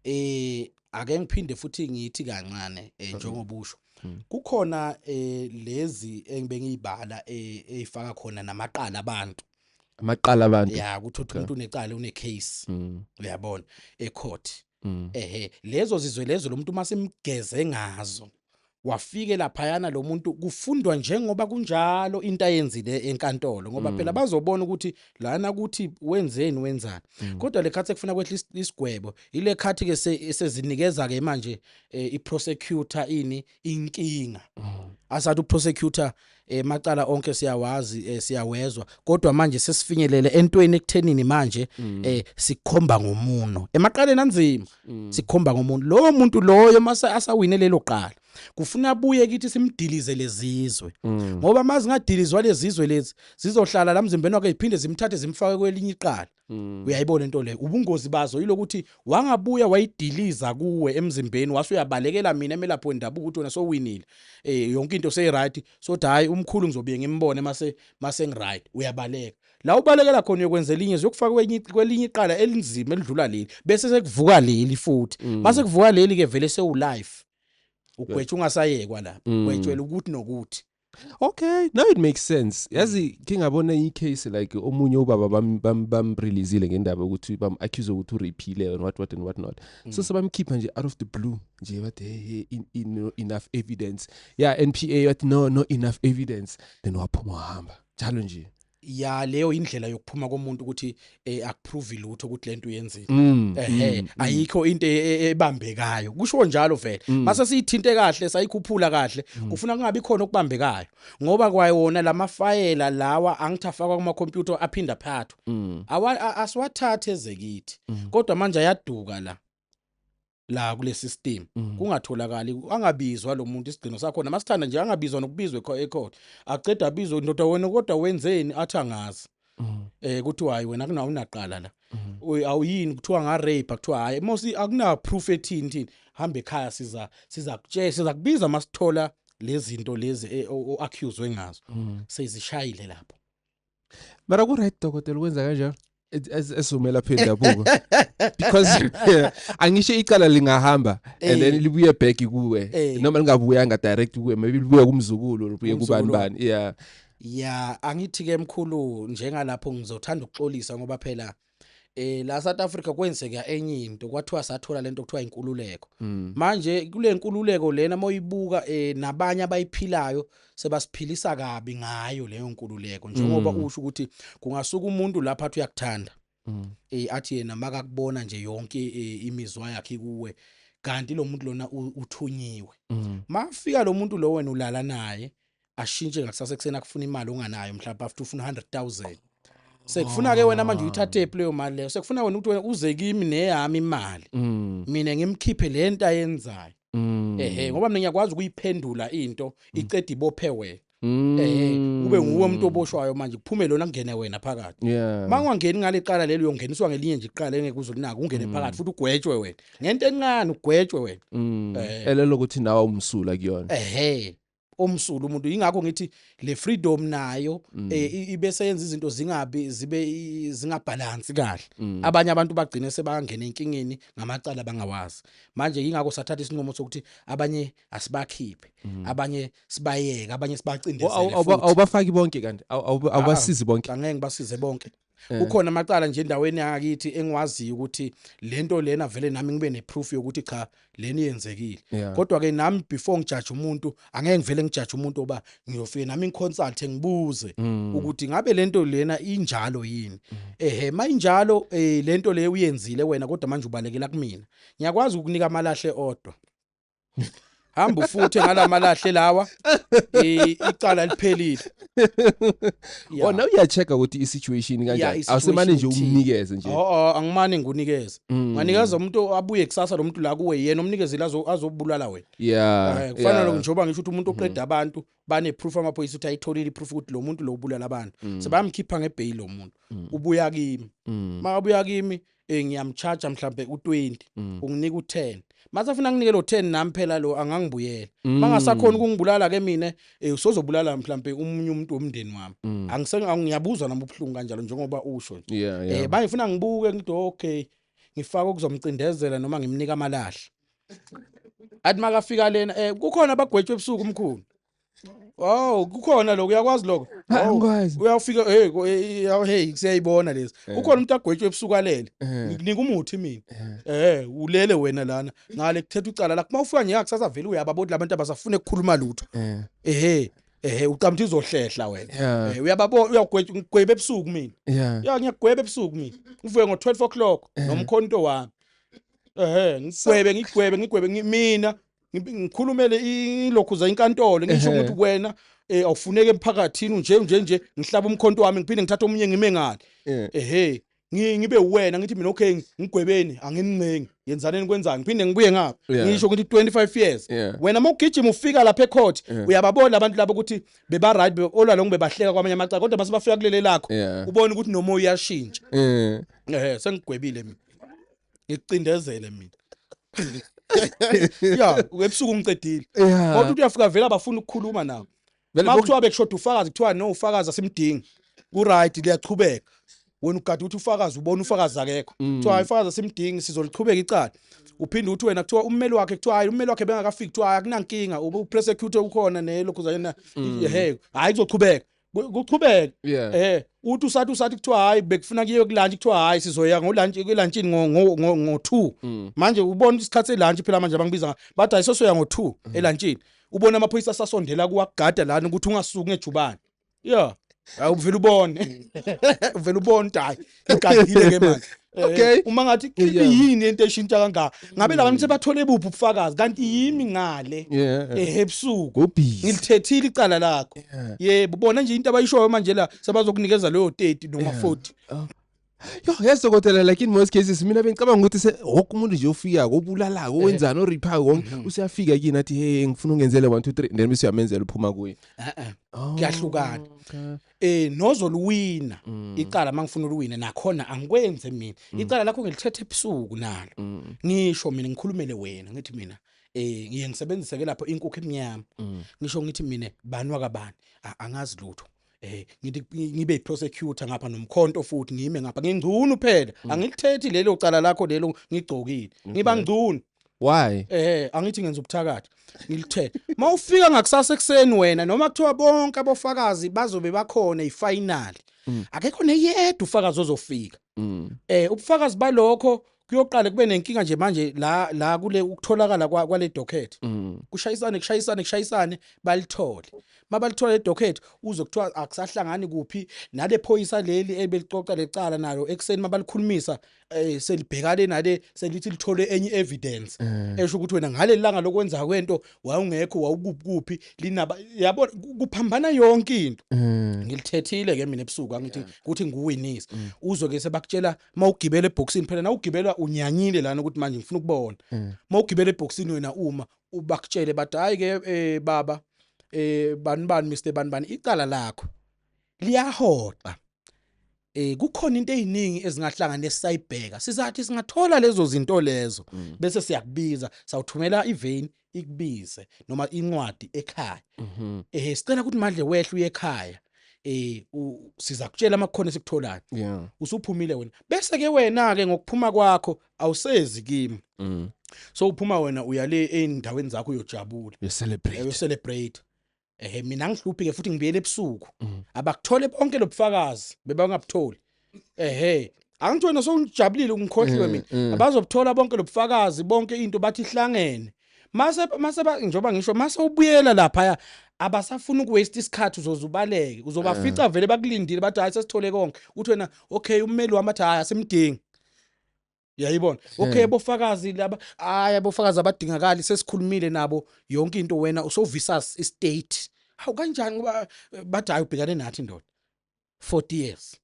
eh ake ngiphinde futhi ngithi kancane eh, mm-hmm. njengoba usho mm. kukhona eh, lezi engibengiyibala eh, eyifaka khona namaqala abantu amaqala abantu ya ukuthi uthi umuntu unecala une case mm. uyabona e court mm. ehe lezo zizwe lezo lomuntu uma simgeze ngazo wafike laphayana lo muntu kufundwa njengoba kunjalo into ayenzile enkantolo ngoba mm. phela bazobona ukuthi lana ukuthi wenzeni wenzani mm. kodwa le khathi ekufuna kwehla isigwebo ile khathi ke sezinikeza ke manje eh, i prosecutor ini inkinga mm. asathi u prosecutor eh macala onke siyawazi eh, siyawezwa kodwa manje sesifinyelele entweni ekuthenini manje mm. eh sikhomba ngomuno emaqaleni anzima mm. sikhomba ngomuntu lowo muntu loyo mase asawine lelo qala kufuna abuye kithi simdilize lezizwe mm. ngoba mazingadilizwa lezizwe lezi zizohlala la mzimbeni wakhe iphinde zimthathe zimfake kwelinye iqala Mm. uyayibona into leyo ubungozi bazo yilokuthi wangabuya wayidiliza kuwe emzimbeni wase uyabalekela mina emelaphi wendabuko ukuthi wena sowinile eh yonke into seyiright so hayi umkhulu ngizobuye ngimbone mase mase ngiright uyabaleka la ubalekela khona uyokwenza elinye ziyokufaka kwenye kwelinye iqala elinzima elidlula leli bese sekuvuka leli futhi mm. mase kuvuka leli ke vele sewulife ugwetsha ungasayekwa lapha mm. gwetshwela ukuthi nokuthi okay now it makes sense yazi ke ngabona i case like omunye ubaba bam bam bam releaseile ngendaba ukuthi bam accuse ukuthi urepile and what what and what not so mm. sebamkhipha nje out of the blue nje bathi hey in, in, enough evidence yeah NPA but no no enough evidence then waphuma hamba njalo nje ya leyo indlela yokuphuma komuntu ukuthi eh, akuprove lutho ukuthi lento uyenzile mm, ehe mm, mm. ayikho into e, e, ebambekayo kusho njalo vele mm. mase siyithinte kahle sayikhuphula kahle mm. kufuna kungabi khona okubambekayo ngoba kwayona lamafayela lawa angithafakwa kuma computer aphinda phathwa mm. asiwathathe ezekithi mm. kodwa manje ayaduka la la kule system mm. kungatholakali angabizwa lo muntu isigcino sakhona masithanda nje angabizwa nokubizwa ecourt aqeda abizwe ndoda wena kodwa wenzeni athi angazi mm. eh kuthiwa hayi wena kunawo unaqala la mm. awuyini kuthiwa nga rape kuthiwa hayi mosi akuna proof ethini thini hamba ekhaya siza siza kutshela siza kubiza masithola lezinto lezi eh, o accuse wengazo sezishayile lapho mara ku-right dokotela ukwenza kanjani esizomela phe ndabuko because angisho icala lingahamba and then eh. libuye back kuwe eh. noma lingabuyanga direct kuwe maybe libuye kumzukulu libuye kubani bani yeah ya angithi ke mkhulu njengalapho ngizothanda ukuxolisa ngoba phela eh la South Africa kwenzeka enye into kwathiwa sathola lento kuthiwa inkululeko mm. manje kule nkululeko lena moyibuka eh nabanye abayiphilayo sebasiphilisa kabi ngayo leyo nkululeko njengoba mm. usho ukuthi kungasuka umuntu lapha athi uyakuthanda mm. eh athi yena makakubona nje yonke eh, imizwa yakhe kuwe kanti lo muntu lona uthunyiwe mafika lo muntu lo wena ulala naye ashintshe ngakusasa ekuseni akufuna imali onganayo mhlawumbe after ufuna 100000 sekufuna ke wena manje uyithathephi leyo mali leyo sekufuna wena ukuthi wena uze kimi neyami imali Mm. mina ngimkhiphe le nto ayenzayo Mm. ehe ngoba mina ngiyakwazi ukuyiphendula into iqeda ibophe wena Mm. ehe kube nguwe umuntu oboshwayo manje kuphume lona kungene wena phakathi Yeah. uma ungangeni ngale qala lelo uyongeniswa ngelinye nje iqala engeke uze ulinake ungene phakathi futhi ugwetshwe wena ngento encane ugwetshwe wena Mm. Eh. Elelo ukuthi nawe umsula kuyona. ehe omsulu umuntu ingakho ngithi le freedom nayo mm. eh, ibe seyenza izinto zingabi zibe zingabalance kahle mm. abanye abantu bagcine sebangena enkingeni ngamacala bangawazi manje ingakho sathatha isinqumo sokuthi abanye asibakhiphe mm. abanye sibayeke abanye sibacindezele futhi awubafaki bonke kanti awubasizi ah, bonke angeke basize bonke Eh. kukhona amacala nje endaweni yangakithi engiwaziyo ukuthi lento lena vele nami ngibe neproof yokuthi cha leni yenzekile yeah. kodwa ke nami before ngijaje umuntu angeke ngivele ngijaje umuntu oba ngiyofike nami ngiconsult ngibuze mm. ukuthi ngabe lento lena injalo yini mm. ehe mayinjalo eh lento le uyenzile wena kodwa manje ubalekela kumina ngiyakwazi ukukunika amalahle odwa hamba ufuthe ngalamalahle lawa icala liphelile wona uyacheck ukuthi isituation kanjani awusemane nje umnikeze nje oh angimane nginikeze mm. nganikeza umuntu abuye kusasa lo muntu la kuwe yena umnikezile azobulala wena yeah eh, kufanele lokho njengoba ngisho ukuthi umuntu oqeda mm. abantu bane proof amaphoyisa ukuthi ayitholile iproof ukuthi lo muntu lo ubulala abantu mm. sebamkhipha ngebail lo muntu ubuya kimi mabuya kimi eh ngiyamcharge mhlambe u20 mm. unginika u10 mase afuna nginike lo 10 nami phela lo angangibuyela mm. bangasakhona ukungibulala ke mina eh usozobulala mhlambe umunye umuntu womndeni wami mm. angisenge ngiyabuzwa nami ubuhlungu kanjalo njengoba usho nje yeah, yeah. eh bayifuna ngibuke ngithi okay ngifaka ukuzomcindezela noma ngimnika amalahla athi makafika lena eh kukhona abagwetshwe ebusuku umkhulu Wow, kukhona lokho uyakwazi lokho. Angikwazi. Uyafika hey yaw hey siyayibona lezi. Eh. Kukhona umuntu agwetshwe ebusuku alele. Eh. Nginika umuthi mina. Eh. eh, ulele wena lana. Ngale kuthetha ucala la. Kuma ufika ngiya kusasa vele uyababona labantu abasafune ukukhuluma lutho. Eh. Eh. ehe uqamthi uzohlehla wena yeah. eh, uyababona uyagweba ebusuku mina yeah. ya ngiyagweba ebusuku mina ngivuke ngo-12 o'clock yeah. nomkhonto wami ehe ngigwebe ngigwebe ngigwebe mina ngikhulumele ilokhuza inkantolo ngisho ukuthi wena eh awufuneke emphakathini nje nje nje ngihlaba umkhonto wami ngiphinde ngithathe omunye ngime ngale ehe ngibe wena ngithi mina okay ngigwebeni angincengi yenzaneni kwenzani ngiphinde ngibuye ngapha ngisho ukuthi 25 years wena uma ugijima ufika lapha ecourt uyababona abantu labo ukuthi beba right olwa lo ngibebahleka kwamanye amacala kodwa base bafika kulele lakho ubona ukuthi noma uyashintsha eh sengigwebile mina ngikucindezele mina ya webusuku ungicedile kodwa uthi uyafika vele abafuna ukukhuluma nawe ma kuthiwa bekushoda ufakazi kuthiwa no ufakazi asimdingi kuright liyachubeka wena ugade ukuthi ufakazi ubona ufakazi akekho mm. kuthiwa hayi ufakazi asimdingi sizoliqhubeka icala uphinde uthi wena kuthiwa ummeli wakhe kuthiwa hayi ummeli wakhe bengakafiki kuthiwa hayi akunankinga uprosecute ukhona nelokhu zayena mm. he hayi kuzoqhubeka kuchubeke yeah. eh uthi usathi usathi kuthiwa hayi bekufuna kuyiwe kulunch kuthiwa hayi sizoya ngolunch kulunchini ngo ngo ngo 2 mm. manje ubona isikhathi selunch phela manje abangibiza bathi hayi sosoya ngo 2 mm. elunchini ubona amaphoyisa asasondela kuwagada lana ukuthi ungasuki ngejubane yeah awuvela ubone uvela ubone hayi igadile ke manje eh, okay uma ngathi yini into eshintsha kangaka ngabe mm. labantu sebathole buphi ubufakazi kanti yimi ngale ehebusuku eh, ngilithethile icala lakho yebo bona nje into abayishoyo manje la sebazokunikeza leyo 30 noma 40 yo yeso kodwa like in most cases mina bengicabanga ukuthi se wonke umuntu nje ofika kobulalaka eh. wenzani oripa konke mhm. usiyafika kini athi hey ngifuna ungenzele 1 2 3 then bese uyamenzela uphuma kuye eh, eh. oh, kuyahlukana eh nozoluwina mm. icala mangifuna uliwine nakhona angikwenze mina mm. icala lakho ngilithethe ebusuku nalo mm. ngisho mina ngikhulumele wena ngithi mina eh ngiye ngisebenzise ke lapho inkukhu emnyama ngisho ngithi mina banwa kabani angazi lutho eh ngithi ngibe prosecutor ngapha nomkhonto futhi ngime ngapha ngingcunu phela angilithethi lelo cala lakho lelo ngigcokile ngiba ngcunu why eh angithi ngenza ubuthakathi ngilithe mawufika ngakusasa ekseni wena noma kuthiwa bonke abofakazi bazobe bakhona ifinal mm. akekho neyedwa ufakazi ozofika mm. eh ubufakazi balokho kuyoqala kube nenkinga nje manje la la kule ukutholakala kwale docket mm. kushayisane kushayisane kushayisane balithole mabalithola edocket uze kuthiwa akusahlangani kuphi nale phoyisa leli ebelicoca lecala nalo ekseni mabalikhulumisa eh selibhekane nale selithi lithole enye evidence mm. esho ukuthi wena ngaleli langa lokwenza kwento wawungekho wawukuphi linaba yabo kuphambana yonke into mm. ngilithethile ke mina ebusuku angithi ukuthi nguwinisa mm. uzwe ke sebakutshela mawugibela eboxini phela nawugibela unyanyile lana ukuthi manje ngifuna ukubona mawugibela eboxini wena uma ubakutshele bathi hayi ke eh, baba eh bani bani Mr bani bani icala lakho liyahoxa eh kukhona into eziningi ezingahlangana esayibheka sizathi singathola lezo zinto lezo mm. bese siyakubiza sawuthumela ivein ikubize noma incwadi ekhaya mhm. eh sicela ukuthi manje wehle uye ekhaya eh siza kutshela amakhono esikutholayo yeah usuphumile wena bese ke wena ke ngokuphuma kwakho awusezi kimi mm. so uphuma wena uya le endaweni zakho uyojabula you celebrate you celebrate ehe mina ngihluphi ke futhi ngibuyele ebusuku mm. abakuthole bonke lobufakazi bebangabutholi ehe angithi wena sowujabulile ungikhohliwe mm, mina mm. abazobuthola bonke lobufakazi bonke into bathi ihlangene mase mase njoba ngisho mase ubuyela lapha abasafuna ukuwaste isikhathi uzozubaleke uzobafica eh. vele bakulindile bathi hayi sesithole konke uthi wena okay ummeli wami athi hayi asimdingi uyayibona okay abofakazi laba hayi abofakazi abadingakali sesikhulumile nabo yonke into wena usovisa istate hawu kanjani ngoba eh, bathi hayi ubhekane nathi ndoda 40 years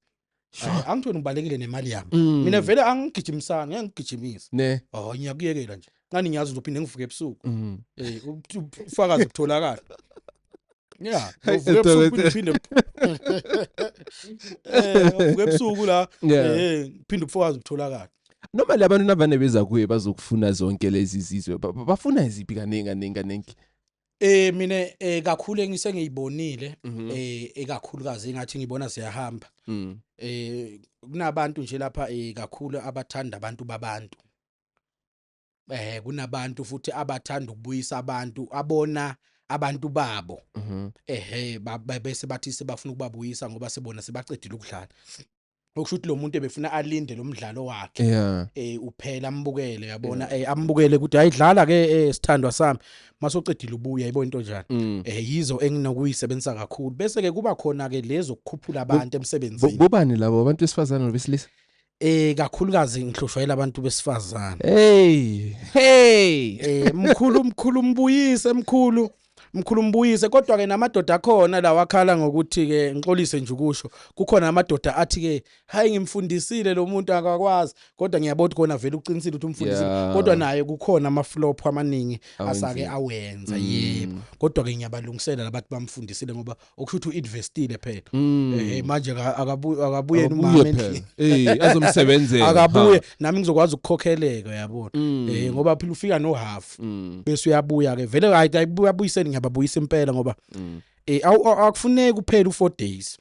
Sure. angithweni ngibalekile nemali yami Mm. mina vele angigijimisani ngeke ngigijimisa ne oh ngiyakuyekela nje nqani ngiyazi uzophinde ngivuke ebusuku mm. eh ufakazi kutholakala yeah uvuke ebusuku uphinde eh uvuke ebusuku la eh uphinde ufakazi kutholakala noma labantu nabane beza kuye bazokufuna zonke lezi zizwe bafuna iziphi kaningi kaningi kaningi Eh mina eh kakhulu engisengiyibonile mhm. eh ekakhulukazi engathi ngibona siyahamba. Mm. Eh kunabantu nje lapha eh kakhulu abathanda abantu babantu. eh kunabantu futhi abathanda ukubuyisa abantu abona abantu babo mhm. ehe bese bathi sebafuna ukubabuyisa ngoba sebona sebaqedile ukudlala okusho ukuthi lo muntu ebefuna alinde lo mdlalo wakhe yeah. eh uphela ambukele yabona yeah. eh ambukele ukuthi ayidlala ke eh sithandwa sami masoqedile ubuya yebo into njani mm. eh yizo enginokuyisebenzisa kakhulu bese ke kuba khona ke lezo kukhuphula abantu emsebenzini kubani labo abantu besifazana nobesilisa Eh kakhulukazi ngihlushwa ilabantu besifazane. Hey, hey. Eh mkhulu mkhulu mbuyise mkhulu. Mkhulu mbuyise kodwa ke namadoda akhona la wakhala ngokuthi ke ngixolise nje ukusho kukhona amadoda athi ke hayi ngimfundisile lo muntu akakwazi kodwa ngiyabona kona vele uqinisile ukuthi umfundisile yeah. kodwa naye kukhona ama flop amaningi asake awenza mm. yebo kodwa ke ngiyabalungisela labathi bamfundisile ngoba okushuthi uinvestile phethu mm. eh manje akabuye akabuye umama endlini eh azomsebenzela akabuye nami ngizokwazi ukukhokheleka yabona mm. eh ngoba phela ufika no half mm. bese uyabuya ke vele hayi ayibuyabuyiseni ngiyababuyisa impela ngoba eh akufuneki kuphela u4 days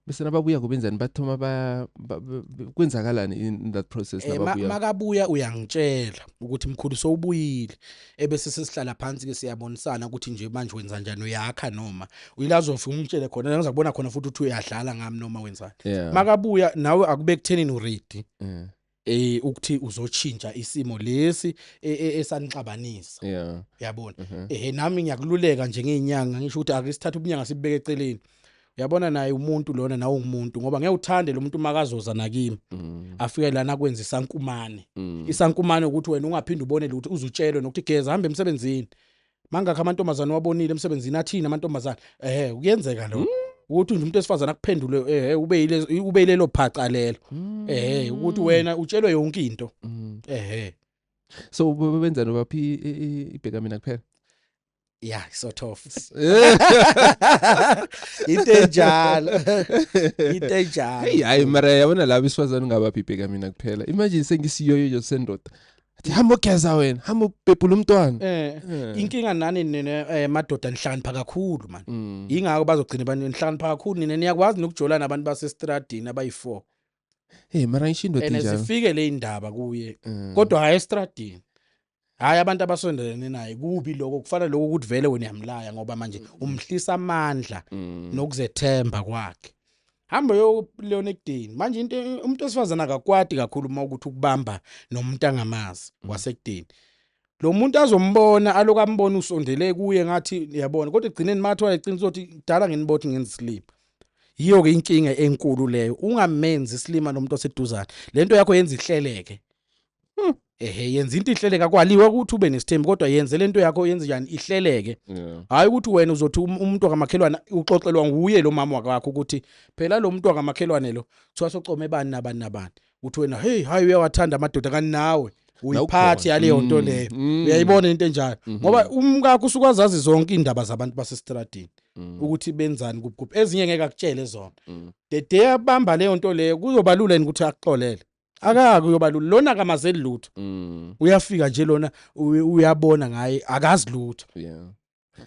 bese nababuya kubenzani bathoma ba, ba, ba kwenzakalani in that process eh, nababuya makabuya uyangitshela ukuthi mkhulu sowubuyile ebese sesihlala phansi ke siyabonisana ukuthi nje manje wenza njani uyakha noma uyilazo ufika ungitshele khona ngiza kubona khona futhi uthi uyadlala ngami noma wenzani yeah. makabuya nawe akube kuthenini uready yeah. eh ukuthi uzotshintsha isimo lesi e, e, esanixabanisa yeah yabona mhm. eh nami ngiyakululeka nje ngeenyanga ngisho ukuthi ake sithathe ubunyanga sibeke eceleni uyabona naye umuntu lona nawe ungumuntu ngoba ngeke uthande lo muntu makazoza nakimi mm. afike lana kwenza isankumane mm. isankumane ukuthi wena ungaphinde ubone lutho uzutshelwe nokuthi geza hambe emsebenzini mangakho amantombazane wabonile emsebenzini athini amantombazane ehe kuyenzeka lo ukuthi nje umuntu esifazana akuphendule ehe ube yile- ube yilelo phaca lelo Mm. ehe ukuthi wena utshelwe yonke into Mm. ehe so be- benzani baphi i- i- i- ibheka mina kuphela ya sort of into enjalo into heyi enjalo hayi mara yabona laba isifazane ungabaphi ibheka mina kuphela imagine sengisiyoyo nje sendoda athi hamba ogeza wena hamba ubhebhula umntwana eh Eh. inkinga nani nina eh, madoda nihlakanipha kakhulu man Mm. ingakho bazogcina abantu nihlakanipha kakhulu nina niyakwazi nokujolana abantu basestradini abayi-4 hey mara ngisho indoda and enjalo zifike le indaba kuye Mm. kodwa hhayi estradini hhayi abantu abasondelene naye kubi lokho kufana lokho ukuthi vele wena uyamlaya ngoba manje umhlisa amandla Mm. nokuzethemba kwakhe hamba yokulona ekudeni manje into umuntu osifazana akakwadi kakhulu uma ukuthi ukubamba nomuntu angamazi mm. wasekudeni lo muntu azombona aloku ambona usondele kuye ngathi yabona kodwa egcineni mathi wayeqinisa ukuthi kudala nginibothi ngenza isilima yiyo-ke inkinga enkulu leyo ungamenzi isilima nomuntu oseduzane le nto yakho yenza ihleleke Hmm. ehe yenza into ihleleka kwaliwe ukuthi ube nesithembu kodwa yenze lento yakho yenze njani ihleleke Yeah. hayi ukuthi wena uzothi um- umuntu wakamakhelwane uxoxelwa nguye lo mama wakakho ukuthi phela lo muntu wakamakhelwane lo kuthiwa socome bani nabani nabani uthi wena heyi hayi uyawathanda amadoda kanti nawe uyiphathi yaleyo nto Mm, leyo mm. uyayibona into enjalo Mhm. ngoba umkakho usuke azazi zonke iindaba zabantu basesitradini Mm, ukuthi benzani kuphi kuphi ezinye ngeke akutshele zona mm. the day abamba leyo nto leyo kuzobalula yini ukuthi akuxolele akake uyobalula lona akamazeli lutho Mm. uyafika nje lona uy- uyabona ngaye akazi lutho Yeah.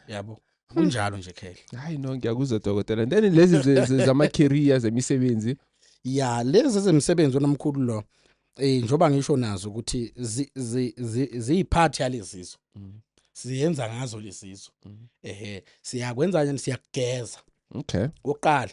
yabo kunjalo nje khehla Hayi no ngiyakuzwa dokotela. And then lezi ze- ze- zama career zemisebenzi. ya lezi zemsebenzi onomkhulu lo eh njoba ngisho nazo ukuthi zi- zi- zi- ziyiphathi yalezizwe Mm. siyenza ngazo lezizwe Mhm. ehe siyakwenza nje siyakugeza Okay. oqala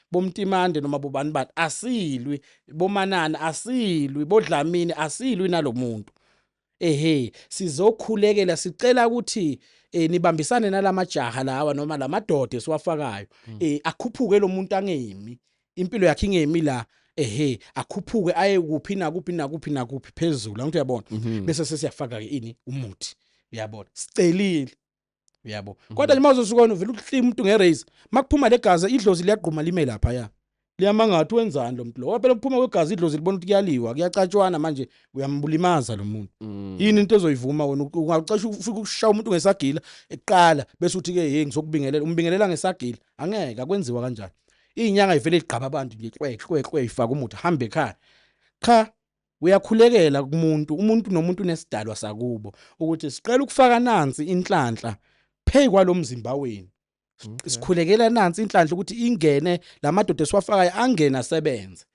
bomtimande noma bobani bani asilwi bomanani asilwi bodlamini asilwi nalomuntu ehe sizokhulekela sicela ukuthi eh nibambisane nalamajaha lawa noma lamadoda esiwafakayo hmm. eh akhuphuke lo muntu angemi impilo yakhe ingemi la ehe akhuphuke aye kuphi nakuphi nakuphi nakuphi phezulu angithi uyabona mhm. bese sesiyafaka ke ini umuthi uyabona sicelile uyabo mhm. kodwa nje mawuzosuka wena uvela uhlima umuntu ngeraise makuphuma legazi idlozi liyagquma lime lapha ya liyamangathi wenzani lo muntu lo waphela kuphuma kwegazi idlozi libona ukuthi kuyaliwa kuyacatshwana manje uyambulimaza lo muntu mm. yini into ezoyivuma wena ungacasha ufika ukushaya umuntu ngesagila eqala bese uthi ke hey ngizokubingelela umbingelela ngesagila angeke akwenziwa kanjani inyanga ivele igqaba abantu nje kwekwekwe ifaka umuthi hambe ekhaya cha Uyakhulekela kumuntu, umuntu nomuntu nesidalwa sakubo ukuthi siqela ukufaka nansi inhlanhla pheyi kwalomzimba wenu. Sikhulekela nansi inhlanhla ukuthi ingene lamadoda esiwafakayo angene asebenze.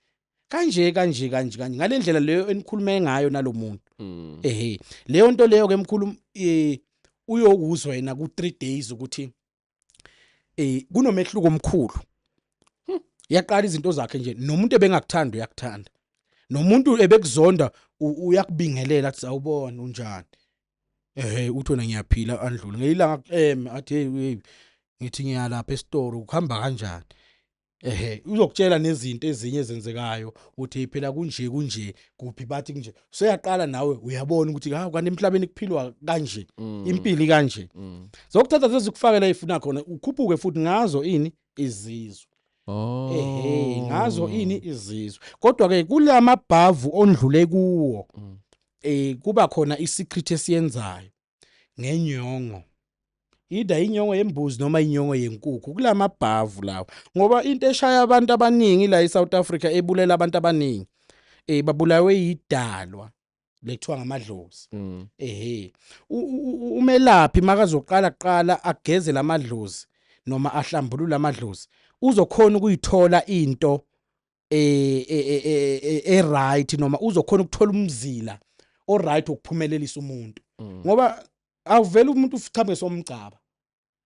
kanje kanje kanje kanje ngalendlela leyo enikhulume ngayo nalomuntu mm. ehe leyo nto leyo ke mkhulu eh, uyokuzwa yena ku 3 days ukuthi eh kunomehluko omkhulu hmm. yaqala izinto zakhe nje nomuntu ebengakuthanda uyakuthanda nomuntu ebekuzonda uyakubingelela athi sawubona unjani ehe uthi wena ngiyaphila andlule ngelilanga em athi hey ngithi ngiyalapha esitoro ukuhamba kanjani ehe uzokutshela nezinto ezinye ezenzekayo uthi phela kunje kunje kuphi bathi kunje seyaqala nawe uyabona ukuthi ha kanti emhlabeni kuphilwa kanje mm. impili kanje mm. zokuthatha zezikufakela ifuna khona ukhuphuke futhi ngazo ini izizwe Oh. Ehhe, ngazo ini izizwe. Kodwa ke kulamabhavu ondlule kuwo. Mm. Eh kuba khona isecret esiyenzayo. ngenyongo ida inyongo yembuzi noma inyongo yenkukhu kulamabhavu lawo ngoba into eshaya abantu abaningi la eSouth Africa ebulela abantu abaningi eh babulawe yidalwa lekuthiwa ngamadlozi mm. ehe umelaphi makazoqala kuqala ageze lamadlozi noma ahlambulule amadlozi uzokhona ukuyithola into eh e right noma uzokhona ukuthola umzila o right ukuphumelelisa umuntu mm. ngoba awuvele umuntu ufichabe somgcaba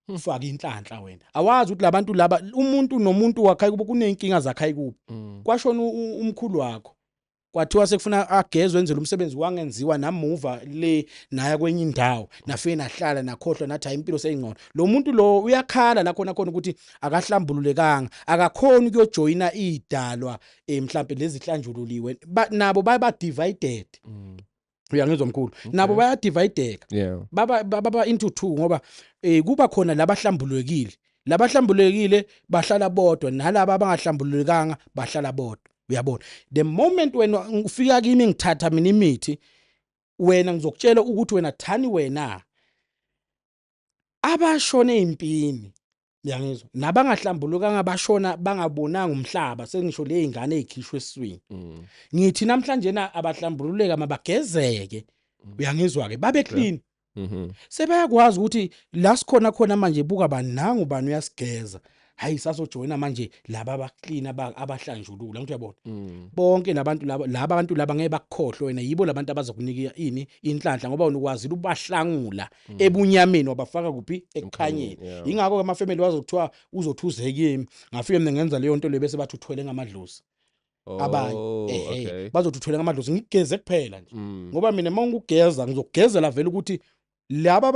hmm. ufake inhlanhla wena awazi ukuthi labantu laba umuntu nomuntu wakhe kubo kunenkinga zakhe kubo mm. kwashona umkhulu wakho kwathiwa sekufuna agezwe enzele umsebenzi wangenziwa namuva le naya kwenye indawo nafike nahlala nakhohlwa nathi hayi impilo seyingcono lo muntu lo uyakhala la khona khona ukuthi akahlambululekanga akakhoni ukuyojoyina idalwa eh, mhlambe lezihlanjululiwe nabo baye ba divided mm. uyangizwa mkhulu nabo bayadivideka Yeah. baba baba into two ngoba eh kuba khona labahlambulukile labahlambulukile bahlala bodwa nalabo abangahlambulukanga bahlala bodwa uyabona the moment wena ufika kimi ngithatha mina imithi wena ngizokutshela ukuthi wena thani wena abashona ezimpini yangizwa nabangahlambulukanga bashona bangabonanga umhlaba sengisho lezingane ezikhishwe eswini mm. ngithi namhlanje na abahlambululeka mabagezeke mm. uyangizwa ke babe clean mhm. sebeyakwazi ukuthi la sikhona khona manje buka banangu bani uyasigeza hayi sazojoyina manje laba abaklina abahlanjulula ngithi uyabona mm. bonke labantu laba laba abantu laba ngeke bakukhohlwe wena yibo labantu abazokunika ini inhlanhla ngoba unukwazi ubahlangula mm. ebunyameni wabafaka kuphi ekukhanyeni ingakho ke amafamily wazokuthiwa uzothuzeka kimi ngafike mina ngenza leyo nto le bese bathi uthwele ngamadlozi oh, abanye ehe bazothi uthwele ngamadlozi ngigeze kuphela nje mm. ngoba mina uma ngikugeza ngizokugezela vele ukuthi laba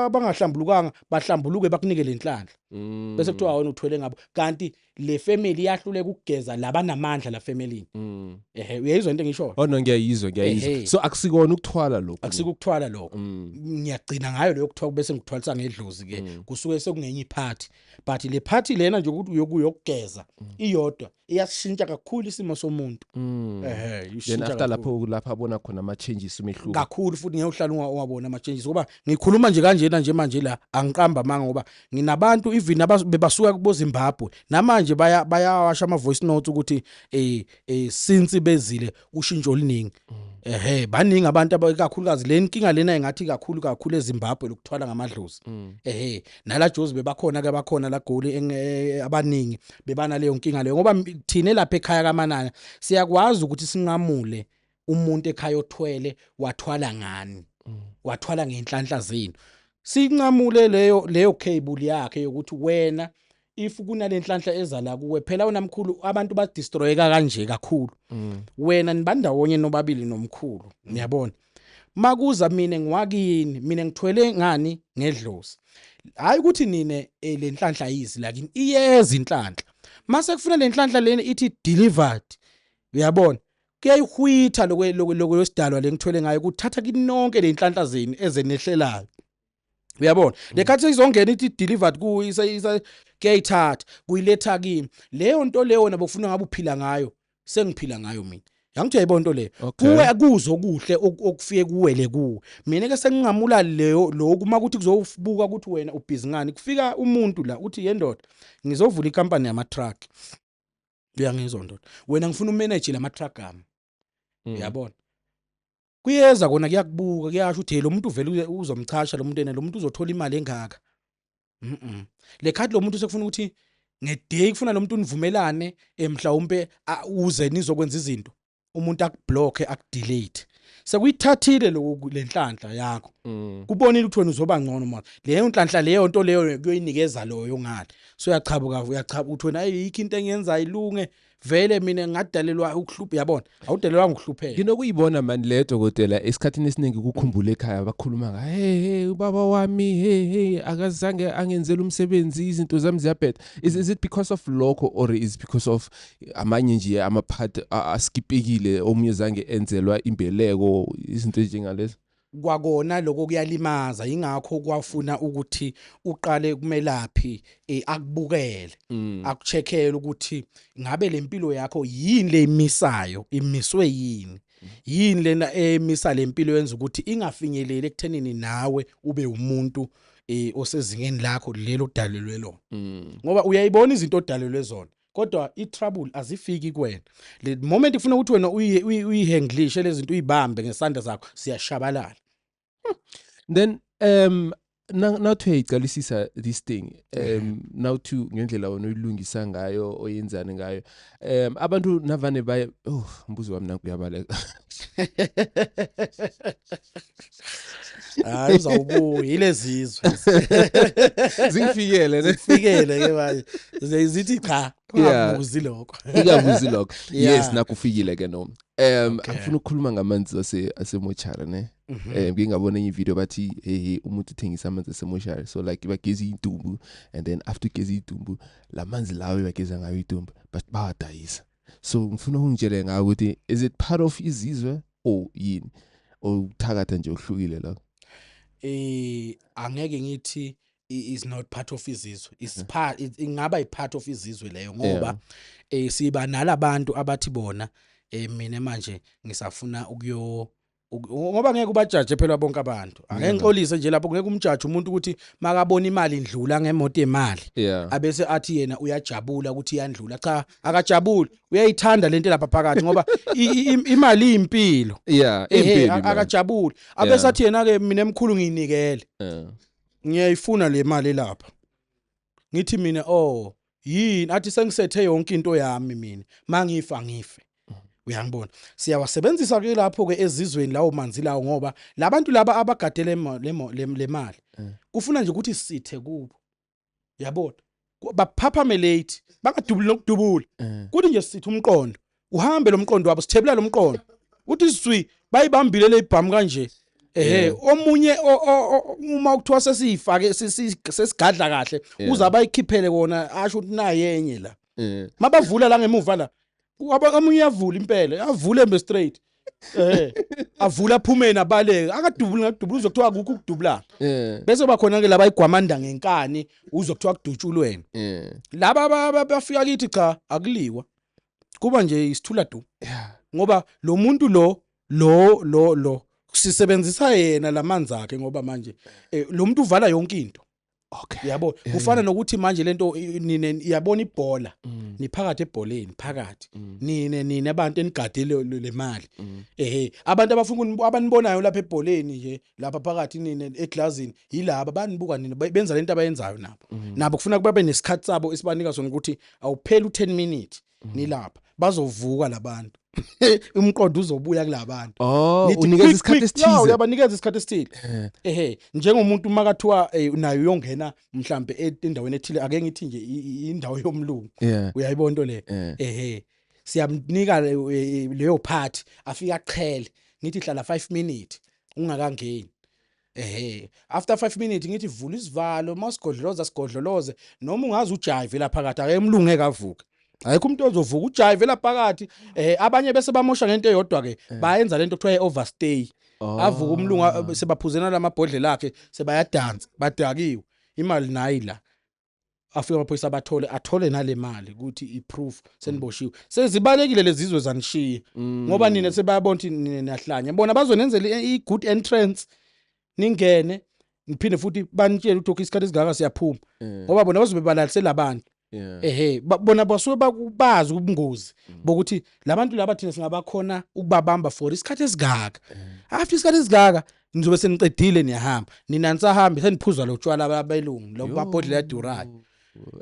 abangahlambulukanga bahlambuluke bakunike lenhlanhla mm. bese kuthiwa wena uthwele ngabo kanti le family yahluleka ukugeza labanamandla la family mm. ehe uyayizwa into engisho oh no ngiyayizwa ngiyayizwa so akusikona ukuthwala lokho akusikukuthwala lokho mm. ngiyagcina ngayo leyo kuthiwa bese ngikuthwalisa ngedlozi ke kusuke sekungenye iphathi but le party lena nje ukuthi uyokuyo ukugeza mm. iyodwa iyashintsha kakhulu isimo somuntu mm. ehe then after lapho lapha abona khona ama changes umehluko kakhulu futhi ngeke uhlala ungawabona ama changes ngoba ngikhuluma nje kanjena nje manje la angiqamba manga ngoba nginabantu even abasuka kubo Zimbabwe namanje baya bayawasha ama voice notes ukuthi eh, eh since bezile ushintsho oluningi mm. ehe baningi abantu abakakhulukazi le nkinga lena engathi kakhulu kakhulu eZimbabwe lokuthwala ngamadlozi mm. ehe nala Jozi bebakhona ke bakhona la goli e, abaningi bebana leyo nkinga leyo ngoba thina lapha ekhaya kaManana siyakwazi ukuthi sinqamule umuntu ekhaya othwele wathwala ngani mm. wathwala ngenhlanhla zenu sinqamule leyo leyo cable yakhe yokuthi wena if kunalenhlanhla eza la kuwe phela wena mkhulu abantu ba destroyeka kanje kakhulu mm. wena nibandawonye nobabili nomkhulu mm. niyabona makuza mina ngiwakini mina ngithwele ngani ngedlozi hayi ukuthi nine eh, lenhlanhla yizi lakini iyeza inhlanhla mase kufuna lenhlanhla leni ithi delivered uyabona kuyayihwitha lokwe lokwe lokwe losidalwa lengithwele ngayo kuthatha kinonke lenhlanhla zenu ezenehlelayo uyabona nekhathi seyizongena ithi delivered ku kuyayithatha kuyiletha kimi leyo nto leyo wena bokufuna ngabe uphila ngayo sengiphila ngayo mina yangithi uyayibona into leyo kuwe kuzo okuhle okufike kuwele kuwe mina ke senginqamula leyo lokhu uma kuthi kuzobuka ukuthi wena ubhizi ngani kufika umuntu la uthi yendoda ngizovula ikampani yama truck uyangizwa ndoda wena ngifuna umanage lama truck ami mm. uyabona kuyeza kona kuyakubuka kuyasho ukuthi lo muntu uvele uzomchasha lo muntu ene lo muntu uzothola imali engaka mhm le card lo muntu sekufuna ukuthi ngeday kufuna lo muntu univumelane eh, mhlawumbe uze nizokwenza izinto umuntu akublocke akudelete sekuyithathile lokhu lenhlanhla yakho mm. kubonile ukuthi wena uzoba ngcono manje leyo nhlanhla leyo nto leyo kuyoyinikeza loyo ngale so uyachabuka uyachabuka ukuthi wena ayikho into engenza ilunge vele mina ngadalelwa ukuhlupha yabona awudelelwa ngokuhlupheka nginokuyibona mani le dokotela esikhathini esiningi kukhumbula ekhaya bakhuluma nga hey hey ubaba wami hey hey akazange angenzele umsebenzi izinto zami ziyabheda is, is it because of lokho or is because of amanye nje ama part askipekile omunye zange enzelwa imbeleko izinto ezinjengalezo kwakona lokho kuyalimaza ingakho kwafuna ukuthi uqale kumelaphi eh, akubukele mm. akucheckele ukuthi ngabe lempilo yakho yini lemisayo imiswe yini yini lena emisa lempilo yenza ukuthi ingafinyeleli ekuthenini nawe ube umuntu eh, osezingeni lakho lelo dalelwe lona mm. ngoba uyayibona izinto odalelwe zona kodwa i-trouble azifiki kuwena le moment ifuna ukuthi wena uyihandlishe lezi zinto uyibambe ngesandla zakho siyashabalala hmm. then um nawuthi uyayiqalisisa this thing um nawuthi ngendlela wena uyilungisa ngayo oyenzani ngayo um abantu navane baye oh mbuzo wami nakuyabaleka hayi uzawubuya yilezizwe zifikele zifikele ke manje zithi cha ungabuzi lokho ungabuzi lokho yes nakufikile ke noma um angifuna ukukhuluma ngamanzi ase asemochara ne mhm. eh ngingabona enye video bathi hey umuntu uthengisa amanzi asemochara so like bageza idumbu and then after geza idumbu lamanzi lawo bageza ngayo idumbu but bawadayisa so ngifuna ungitshele ngayo ukuthi is it part of izizwe or yini okuthakatha nje ohlukile la eh angeke ngithi is not part of izizwe is part ingaba ipart of izizwe leyo ngoba eh siba nalabantu abathi bona eh mina manje ngisafuna ukuyo ngoba ngeke ubajaje phela bonke abantu ake ngixolise nje lapho ngeke umjaje umuntu ukuthi makabona imali indlula ngemoto yemali abese athi yena uyajabula ukuthi iyandlula cha akajabuli uyayithanda lento lapha phakathi ngoba imali iyimpilo yeah impilo akajabuli abese athi yena ke mina emkhulu ngiyinikele ngiyayifuna le mali lapha ngithi mina oh yini athi sengisethe yonke into yami mina mangifa ngife uyangibona siyawasebenzisa ke lapho ke ezizweni lawo manzi lawo ngoba labantu laba abagade le mali eh. kufuna nje ukuthi sithe kubo yabona baphaphamelate bangadubuli nokudubula eh. kuthi nje sithe umqondo uhambe lomqondo wabo sithebula lomqondo uthi izwi bayibambile leyibhamu kanje ehe omunye uma kuthiwa sesiyifake sesigadla kahle uza bayikhiphele kona asho ukuthi naye enye la mabavula la ngemuva la omunye uyavula impela yavule mbe straight eh avula phumeni abaleke akadubuli ngadubula uzokuthiwa akukho ukudubulana eh. bese bakhona ke laba igwamanda ngenkani uzokuthiwa kudutshulweni eh. laba bafika kithi cha akuliwa kuba nje isithula du ngoba lo muntu lo lo lo lo sisebenzisa yena lamanzi akhe ngoba manje eh, lo muntu uvala yonke into okay yabo eh. kufana nokuthi manje lento nine iyabona ibhola mm. niphakathi ebholeni phakathi mm. nine nine abantu enigadile lemali mm. ehe abantu abafuna abanibonayo lapha ebholeni nje lapha phakathi nini eglazini yilaba banibuka nini benza lento abayenzayo nabo mm. nabo kufuna kuba benesikhathi sabo esibanika sona ukuthi awupheli u10 minutes mm. nilapha bazovuka labantu umqondo uzobuya kulabantu oh unikeza isikhathi esithize no uyabanikeza isikhathi esithile eh. ehe njengomuntu uma kathiwa eh, nayo uyongena mhlambe e, endaweni ethile ake ngithi nje indawo yomlungu uyayibona into le eh. ehe siyamnika eh, eh, leyo part afika aqhele ngithi hlala 5 minutes ungakangeni ehe after 5 minutes ngithi vula isivalo masigodloloza sigodloloze noma ungazi ujive la phakathi akemlunge kavuka ayikho umuntu ozovuka ujive la phakathi eh abanye bese bamosha ngento eyodwa ke eh. bayenza lento kuthiwa overstay oh. avuka umlungu sebaphuzena lamabhodlela akhe sebayadansa badakiwe imali nayi la afike amaphoyisa abathole athole nale mali ukuthi iproof seniboshiwe sezibalekile lezizwe zanishiye Mm. ngoba nina sebayabona ukuthi nina niyahlanya bona bazonenzela i- i-good entrance ningene niphinde futhi banitshele ukuthi okay isikhathi esingaka siyaphuma Eh, ngoba bona bazobe balalisela abantu yeah. ehe ba- bona basuke baku- bazi ubungozi bokuthi labantu laba thina singabakhona ukubabamba for isikhathi esingaka after isikhathi esingaka nizobe seniqedile niyahamba nina nisahambe seniphuza lo tshwala babelungu lo mabhodlela yadurali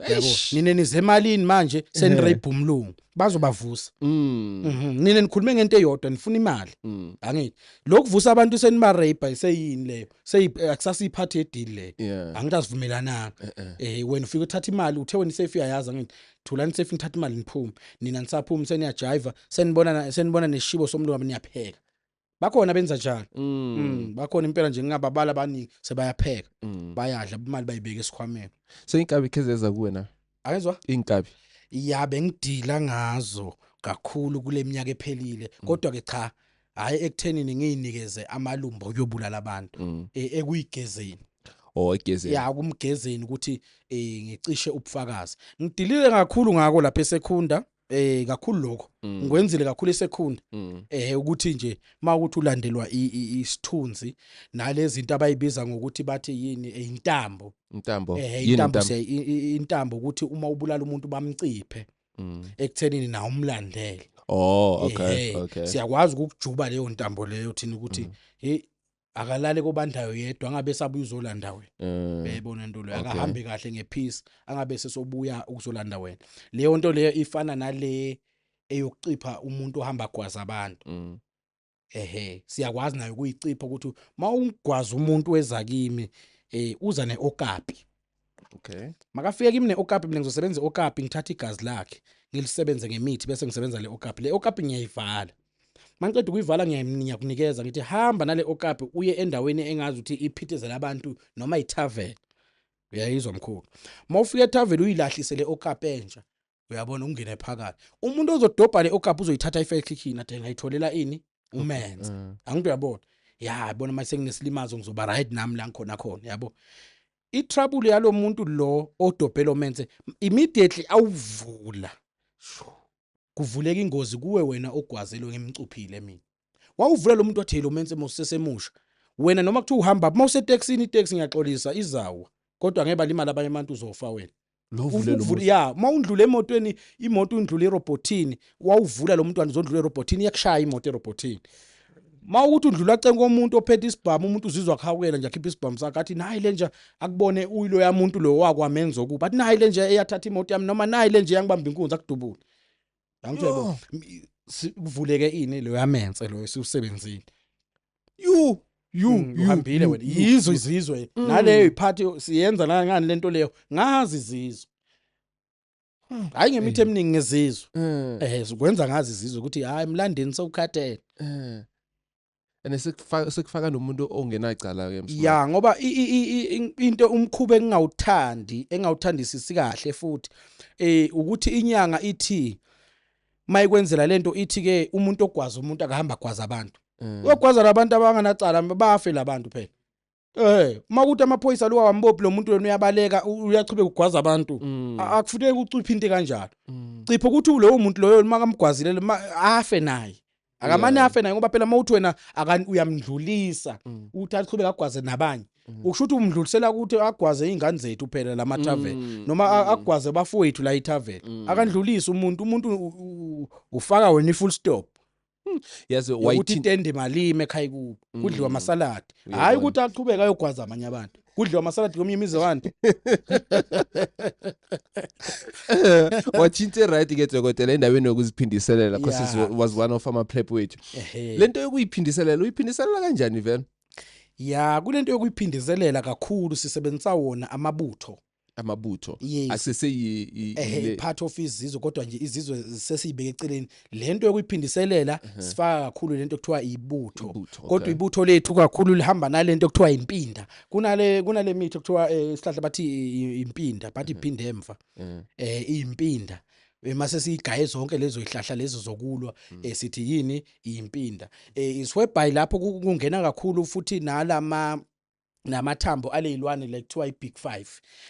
yabo nina nize emalini manje senirape umlungu bazobavusa mm. mhm. nina nikhulume ngento eyodwa nifuna imali mm. angithi lokuvusa abantu seniba rape iseyini leyo seyi eh, akusasa iphathi yedeal leyo angithi asivumelananga eh, eh. eh wena ufika uthatha imali uthe wena isafe uyayazi angithi thulani safe nithatha imali niphume nina nisaphuma seniyajiva senibona senibona neshibo somlungu niyapheka bakhona benza njalo mm. mm. bakhona impela nje ngingababala abaningi sebayapheka mm. bayadla imali bayibeka esikhwameni so inkabi khezeza kuwe na ayizwa inkabi ya bengidila ngazo kakhulu kule minyaka ephelile mm. kodwa ke cha hayi ekuthenini ngiyinikeze amalumbo okuyobulala abantu mm. e, ekuyigezeni or egezeni ya kumgezeni ukuthi eh ngicishe ubufakazi ngidilile kakhulu ngako lapha esekhunda eh kakhulu lokho Mm. ngikwenzile kakhulu isekhunda Mm. eh ukuthi nje mawukuthi ulandelwa i- i- isithunzi nalezi zinto abayibiza ngokuthi bathi yini eh, intambo Intambo. eh Yini intambo intambo? siya- i- i- intambo ukuthi uma ubulala umuntu bamciphe Mm. ekuthenini na umlandele Oh, okay, Ehhe, okay. siyakwazi ukukujuba leyo ntambo leyo thina ukuthi Mm. hey akalale kobandayo yedwa angabe esabuya uzolanda wena mm. uyayibona into leyo akahambe kahle ngepeace angabe sesobuya ukuzolanda wena leyo nto leyo ifana nale eyokucipha umuntu ohamba gwaza abantu mm. ehe siyakwazi nayo ukuyicipha ukuthi uma ungigwaza umuntu weza kimi eh uza neokapi okay makafike kimi ne-okapi mina ngizosebenza i-okapi ngithathe igazi lakhe ngilisebenze ngemithi bese ngisebenza le okapi le okapi ngiyayivala mangiqeda ukuyivala ngiyakunikeza ngithi hamba nale okapi uye endaweni engazi ukuthi iphithizela abantu noma ithaveni uyayizwa mkhulu uma ufika ethaveni uyilahlise le okapi entsha uyabona ungene phakathi umuntu ozodobha le okapha uzoyithatha i-fair click yini ade ngayitholela ini umenze Mm. angikho uyabona ya bona manje senginesilimazo ngizoba right nami la ngikhona khona yabo i-trouble yalo muntu lo odobhe lo menze immediately awuvula Shoo. kuvuleka ingozi kuwe wena ogwazelwe ngimcuphile mina wawuvula lo muntu wathi lo mense mosesemusha wena noma kuthiwa uhamba uma usetaxini itaxi ngiyaxolisa izawa kodwa ngeke balimala abanye abantu uzofa wena ya uma undlula emotweni imoto undlula erobhothini wawuvula lo mntwana uzondlula erobhothini iyakushaya imoto erobhothini ma ukuthi udlula ceni komuntu ophethe isibhamu umuntu uzizwa khawukela nje akhipha isibhamu sakhe athi nayi le nje akubone uyiloya muntu lo wakwamenza okubi athi nayi le nje eyathatha imoto yami noma nayi le nje yangibamba inkunzi akudubule Angithe bo kuvuleke ini lo yamense lo esiwusebenzile. You you mm, uhambile wena yizo izizwe mm. naleyo iphathi siyenza la ngani lento leyo ngazi izizwe hmm. hayi ngemithi eh. eminingi ngezizwe eh, eh zikwenza ngazi izizwe ukuthi hayi mlandeni sewukhathele eh and sekufaka sekufaka nomuntu ongenacala ke msma ya ngoba i- i- i- i- in- into umkhuba engingawuthandi engawuthandisisi kahle futhi eh ukuthi inyanga ithi mayikwenzela lento ithi ke umuntu ogwaza umuntu akahamba gwaza abantu Mm. uyogwaza labantu abanganacala bafe labantu phela Eh, uma kuthi amaphoyisa lo wambophi lo muntu wena uyabaleka u- uyachubeka ugwaza abantu. Mm. A- Akufuneki uciphe into kanjalo. Mm. Cipha ukuthi ulowo muntu loyo uma kamgwazile ma afe naye. Akamane Yeah. afe naye ngoba phela uma uthi wena akan uyamdlulisa Mm. uthi achubeka agwaze nabanye. Mm. Ukusho ukuthi umdlulisela ukuthi agwaze izingane zethu phela lama tavern. Mm. noma a- Mm. agwaze bafowethu la itavern Mm. akandlulisi umuntu umuntu u- u- ufaka wena i-full stop Hmm, yazi yokuthi wayithi itende malimi ekhaya kubo kudliwa Mm. amasaladi Uyabona. hhayi ukuthi aqhubeke ayogwaza amanye abantu kudliwa amasaladi komunye imizi abantu wathinta right ke dokotela endaweni yokuziphindiselela cause Yeah. yeah. was one of ama prep wethu Ehhe. lento yokuyiphindiselela uyiphindiselela kanjani vele ya kule nto yokuyiphindiselela kakhulu sisebenzisa wona amabutho amabutho Yes. asese yi- yi- ehe le- part of izizwe kodwa nje izizwe sesiyibeke eceleni lento yokuyiphindiselela sifaka kakhulu lento kuthiwa ibutho Uh-huh. Ibutho, kodwa okay. ibutho lethu kakhulu lihamba nalento kuthiwa impinda kunale kunale mithi kuthiwa eh, isihlahla bathi i- i- impinda bathi Uh-huh. iphinde emva Eh, eh impinda mase siyigaye zonke lezo ihlahla lezo zokulwa Mm. eh, sithi yini impinda eh iswebhayi lapho ku- kungena kakhulu futhi nalama namathambo aleyilwane le kuthiwa i-big 5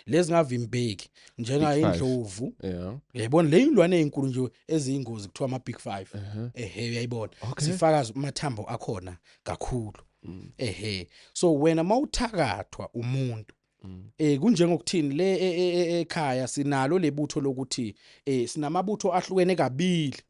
lezingavimbeki njenga indlovu yayibona le ilwane ezinkulu nje eziyingozi kuthiwa ama big 5 ehe uyayibona sifakaza amathambo akhona kakhulu mm. ehe so wena mawuthakathwa umuntu eh kunjengokuthini le e, e, e, ekhaya sinalo lebutho lokuthi eh sinamabutho ahlukene kabili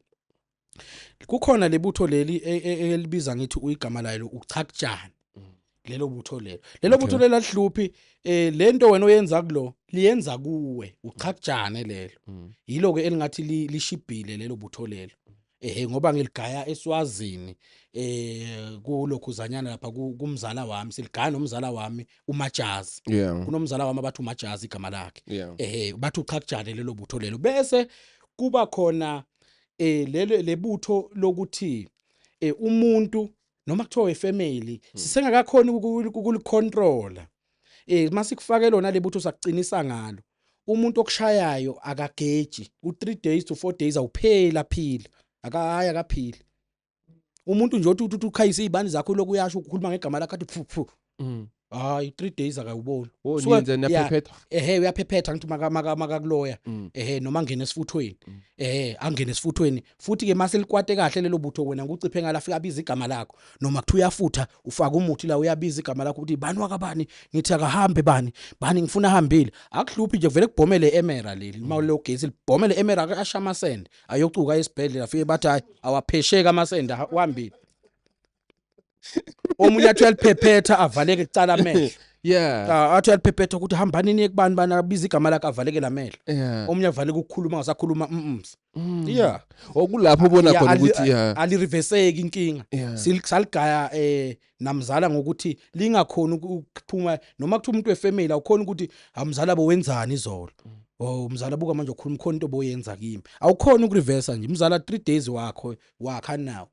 kukhona lebutho leli e, e, e, elibiza ngithi uyigama layo uchakujani mm. lelo butho lelo lelo butho lelo alihluphi eh lento wena oyenza kulo liyenza kuwe uchakujane lelo mm. yilo ke elingathi lishibhile lelo butho lelo ehe ngoba ngiligaya eswazini eh kulokhu zanyana lapha kumzala wami siligaya nomzala wami umajazi yeah. kunomzala wami abathi umajazi igama lakhe yeah. ehe bathi uchakujane lelo butho lelo bese kuba khona eh lelo lebutho lokuthi eh umuntu noma kuthiwa wefamily hmm. sisengakakhona ukulicontrola eh masikufake lona lebutho sakucinisa ngalo umuntu okushayayo akageji u3 days to 4 days awupheli aphila akahayi akaphili umuntu nje othi uthi ukhayise izibani zakho lokhu uyasho ukukhuluma ngegama lakhe athi phu phu mm. hayi 3 days akayuboni oh, so nje naphephetha ehe uyaphephetha ngithi maka maka makakuloya mm. ehe noma ngene esifuthweni mm. ehe angene esifuthweni futhi ke mase likwate kahle lelo butho wena nguciphe ngala fika abiza igama lakho noma kuthi uyafutha ufaka umuthi la uyabiza igama lakho ukuthi bani wakabani ngithi akahambe bani bani ngifuna ahambile akuhluphi nje vele kubhomele emera leli mm. mawule ogesi libhomele emera akashamasende ayocuka esibhedlela fike bathi hayi awaphesheki amasende wambile omunye athi uyaliphephetha avaleke kucala amehlo yeah ah, athi uyaliphephetha ukuthi hambani niye kubani bani abiza igama lakhe avalekele amehlo yeah omunye avaleke ukukhuluma ngasakhuluma mm yeah okulapho ubona khona ukuthi yeah alireverseki inkinga siligaya eh namzala ngokuthi lingakhona ukuphuma noma kuthiwa umuntu wefamily awukhona ukuthi amzala bo wenzani izolo mm. oh umzala buka manje ukhuluma khona into boyenza kimi awukhona ukureversa nje umzala 3 days wakho wakha nawo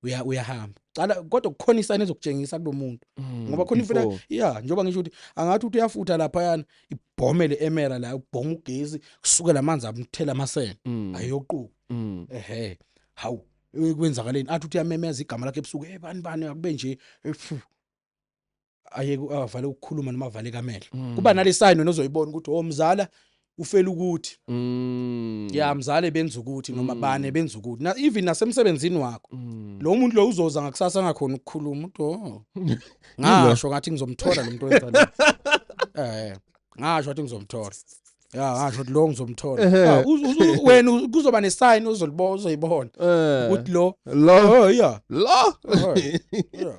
uya uyahamba cala kodwa kukhona isayini ezokutshengisa kulomuntu mm, ngoba khona imfuna yeah njengoba ngisho ukuthi angathi uthi uyafutha lapha yana ibhomu le emera la ubhonga ugezi kusuke lamanzi amthela amasene mm. ayoquka ehe hawu kwenzakaleni athi uthi yamemeza igama lakhe ebusuku hey bani bani akube nje efu aye avale ukukhuluma noma avale kamehlo mm. kuba nale sign wena ozoyibona ukuthi oh mzala ufela ukuthi mm. ya mzale benza ukuthi noma mm. bane benza ukuthi na even nasemsebenzini wakho mm. lo muntu lo uzoza ngakusasa ngakhona ukukhuluma uthi oh ngasho ngathi ngizomthola lo muntu wenza eh ngasho ngathi ngizomthola ya ngasho ukuthi lo ngizomthola Ehhe. Ah, uz- uz- uz- wena uz- kuzoba nesign uzolibona uzoyibona Eh, ukuthi lo lo oh yeah lo Oh, yeah